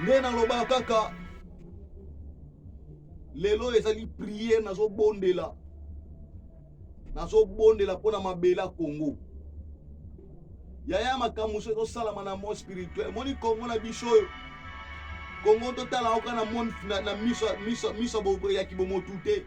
nde nalobaka kaka lelo ezali priere nazobondela nazobondela mpo na mabele ya kongo yaya makambo so ezosalama na mot spirituel moni kongo na biso oyo kongo totala oka na miso ya kibomotu te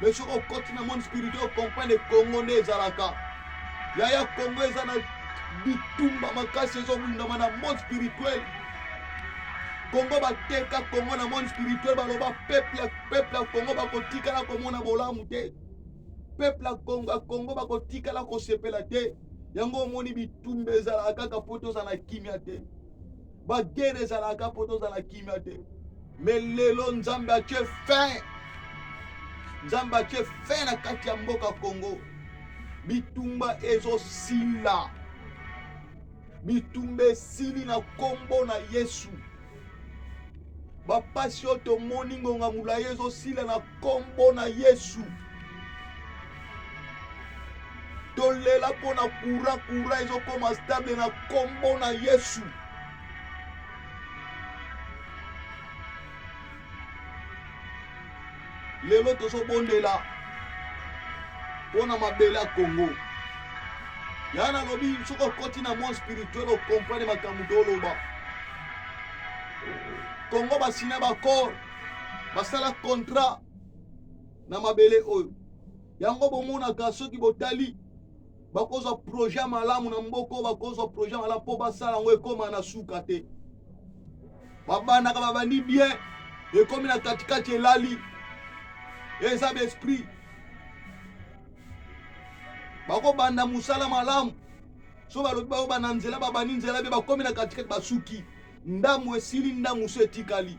mais soki okoti na monde spirituel comprendre congo nde ezalaka yaya congo eza na bitumba makasi ezobundama na monde spirituel kongo bateka kongo na monde spirituel baloba peuple ya peuple ya kongo bakotikala komona bolamu te peuple ya kongo ya kongo bakotikala kosepela te yango omoni bitumba ezalaka kaka mpo tozala kimia te bagere ezalaka mpo tozala kimia te me lelo nzambe atye fin nzambe atye fin na kati ya mboka congo bitumba ezosila bitumba esili na nkombo na yesu bapasi oyo tomoni ngonga molai ezosila na nkombo na yesu tolela mpo na kura kura ezokoma stable na nkombo na yesu lelo tozobondela mpo na mabele ya kongo ya nalobi soki okoti na monde spirituel okomprane makambo toloba kongo basina bacor basala contrat na mabele oyo yango bomonaka soki botali bakozwa projet malamu na mboko bakozwa projet malamu mpo basala yango ekóma na suka te babandaka babandi bien ekomi na katikati elali eza baesprit bakobanda mosala malamu so balobi bayobanda nzela babandi nzela mpe bakomi na katikati basuki ndambo esili ndambo mosusu etikali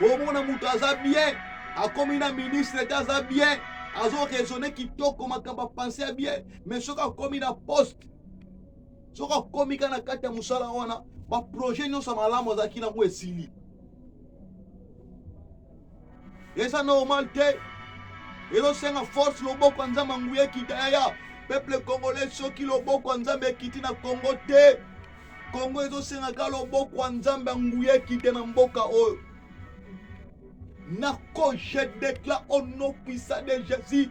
omona moto aza bien akomi na ministre te aza bien azo raisonne kitoko makambo apense ya bien mais soki akomi na poste soki akomi ka na kati ya mosala wana baprojet nyonso malamu azalaki nango esili eza normal te ezosenga force loboko ya nzambe nguya ekita yaya peuple congolais soki loboko ya nzambe ekiti na congo te congo ezosengaka loboko ya nzambe ya nguya ekite na mboka oyo nako je declare au nom puissant de jésus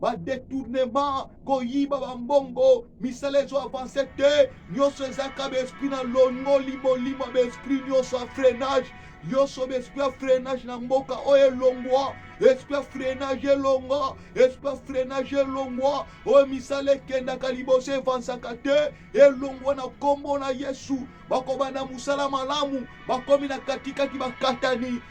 badetournement koyiba bambongo misala ezo avance te nyonso ezaka baesprit na longoli molimo baesprit nyonso ya freinage nyonso baesprit ya freinage na mboka oyo elongwa esprit ya freinage elongwa esprit ya freinage elongwa oyo misala ekendaka liboso evansaka te elongwa na nkombo na yesu bakobanda mosala malamu bakomi na katikati bakatani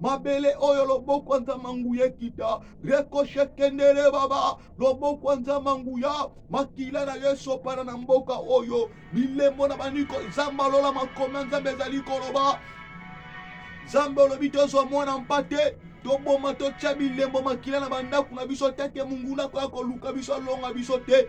mabele oyo loboko nza manguya ekita rekoshe kendere baba loboko nza manguya makila na yo esopana na mboka oyo bilembo na baniko zamba lola makomi ya nzambe ezali koloba nzambe olobi tozwa mwana mpate toboma totya bilembo makila na bandako na biso te te monguna koya koluka biso alonga biso te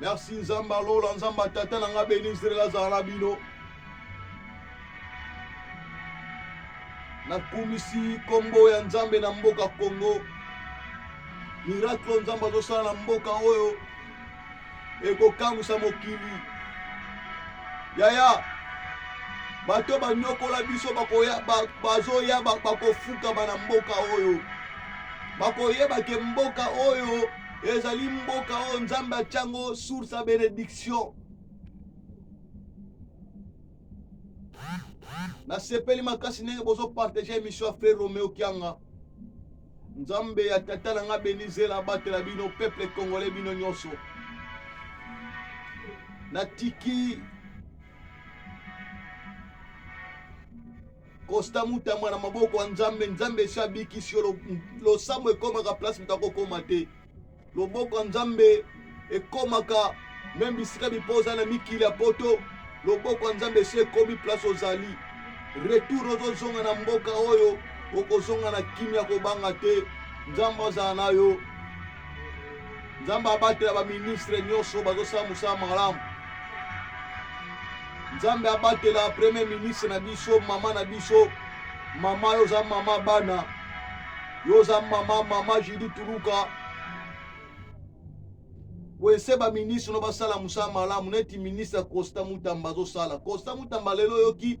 Merci Nzamba Lola, Nzamba Tata na nga beni Israël azala na bino. Nakumisi kombo ya Nzambe na mboka Congo. Miracle Nzambe azosala na mboka oyo ekokamwisa mokili. Yaya, bato banyokola biso bazoya bakofukama na mboka oyo bakoyeba ke mboka oyo ezali mboka oyo nzambe atya yango source ya benediction nasepeli makasi ndenge bozopartage émission ya frère romeo kianga nzambe ya tata na nga benizela abatela bino peuple congolais bino nyonso natiki Costa Mutamba na maboko ya Nzambe, Nzambe esi abikisi yo. Losambo ekomaka place moto akokoma te. Loboko ya Nzambe ekomaka meme bisika bipo oza na mikili ya poto, loboko ya Nzambe esi ekomi place ozali. Retour ozozonga na mboka oyo, okozonga na kimia, kobanga te. Nzambe azala na yo. nzambe abatela baministre nyonso bazosala mosala malamu nzambe abatela premier ministre na biso mama na biso mama yo oza mama bana yo oza mama mama judi tuluka wese baministre no basala mosala malamu neti ministre costa mutamba azosala costa mutamba lelo oyoki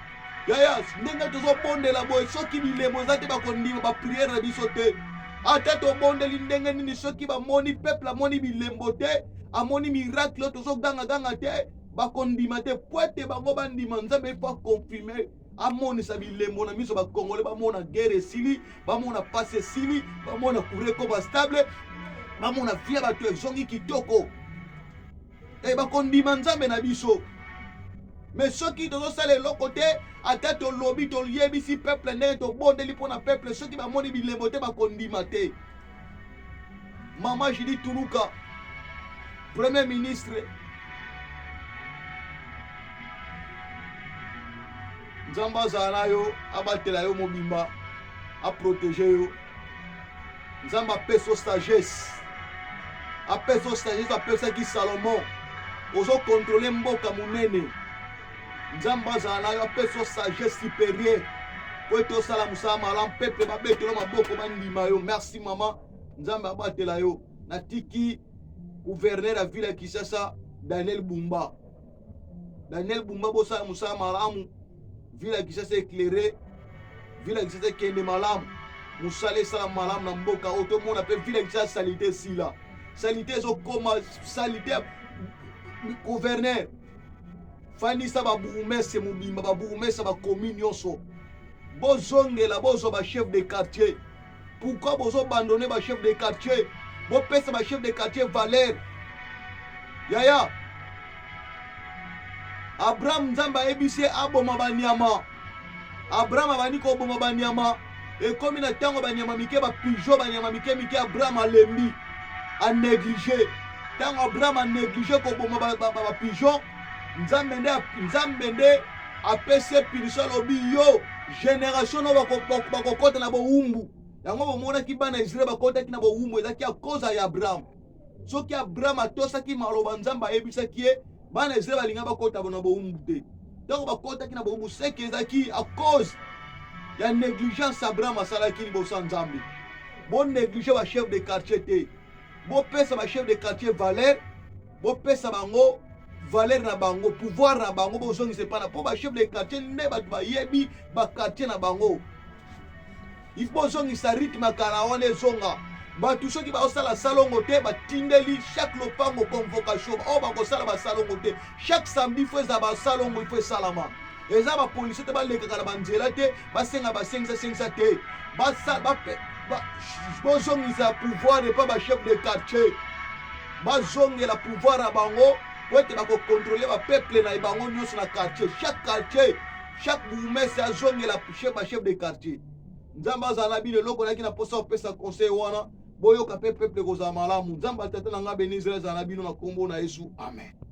yaya ndenge tozobondela boye soki bilemo eza te bakondima bapriere na biso te ata tobondeli ndenge nini soki bamoni peuple amoni bilembo te amoni miracle oyo tozogangaganga te bakondima te po ete bango bandima nzambe ifo akonfirme amonisa bilembo na miso bakongole bamona guerre esili bamona pasi esili bamona kure ekoma stable bamona vie ya bato ezongi kitoko e bakondima nzambe na biso me soki tozosala eloko te ata tolobi toyebisi peuple ndenge tobondeli mpo na peuple soki bamoni bilembo te bakondima te mama judi tuluka premier ministre nzambe azala na yo abatela yo mobimba aprotege yo nzambe apeso sagesse apeso sagesse apesaki salomon ozokontrole mboka monene nzambe azala nayo apeso sagesse supérieure po ete osala mosala malamu peple babetelo maboko bandima yo merci mama nzambe abatela yo natiki guverner ya ville ya kisasa daniel bumba Daniel Bumba bosala mosala malamu, ville ya Kinshasa eclaire, ville ya Kinshasa ekende malamu, mosala esala malamu na mboka oyo tomona mpe ville ya Kinshasa salite esila, salite ezokoma salite gouverneur fandisa babourgmestre mobimba babourgmestre bakomi nyonso bozongela bozwa bachef de quartier Pourquoi bozo bandone ba chef de quartier? Bopesa ba chef de quartier valeur. Yaya. Abraham Nzambe ayebisi ye aboma banyama. Abraham abandi koboma banyama. Ekomi na ntango banyama mike ba pigeon banyama mike mike Abraham alembi. A neglige. Ntango Abraham a neglige koboma ba, ba, ba, ba pigeon nzambe nde nzambe nde apesi ye punition alobi yo generation no bakokota na bowumbu yango bomonaki bana ya israele bakotaki na bowumbu ezalaki ya koza ya abraham soki abraham atosaki maloba nzambe ayebisaki ye bana ya israele balinga bakota na bowumbu te ntango bakotaki na bowumbu seke ezalaki a cause ya negligence abraham asalaki liboso ya nzambe boneglige bachef de quartier te bopesa bachef de quartier valeur bopesa bango valeur na bango pouvoir na bango bozongisa epai na mpo bachef de quartier nde bato bayebi bakartier na bango ifo bozongisa rythme ya kala wana ezonga bato soki baosala salongo te batindeli chaque lopango convocation oyo bakosala basalongo te chaque samedi fo ezala basalongo ifo esalama eza bapolisie te balekaka na banzela te basenga basengisa sengisa te bozongisa pouvoir epa bachef de quartier bazongela pouvoir ya bango po ete bakokontrole bapeuple na bango nyonso na quartier chaque quartier chaque bourgmestre azongela bachef de quartier nzambe azala na bino eloko nayaki na mposa kopesa conseil wana boyoka mpe peuple ekozala malamu nzambe atata na ngai beni israel azala na bino na nkombo na yesu amen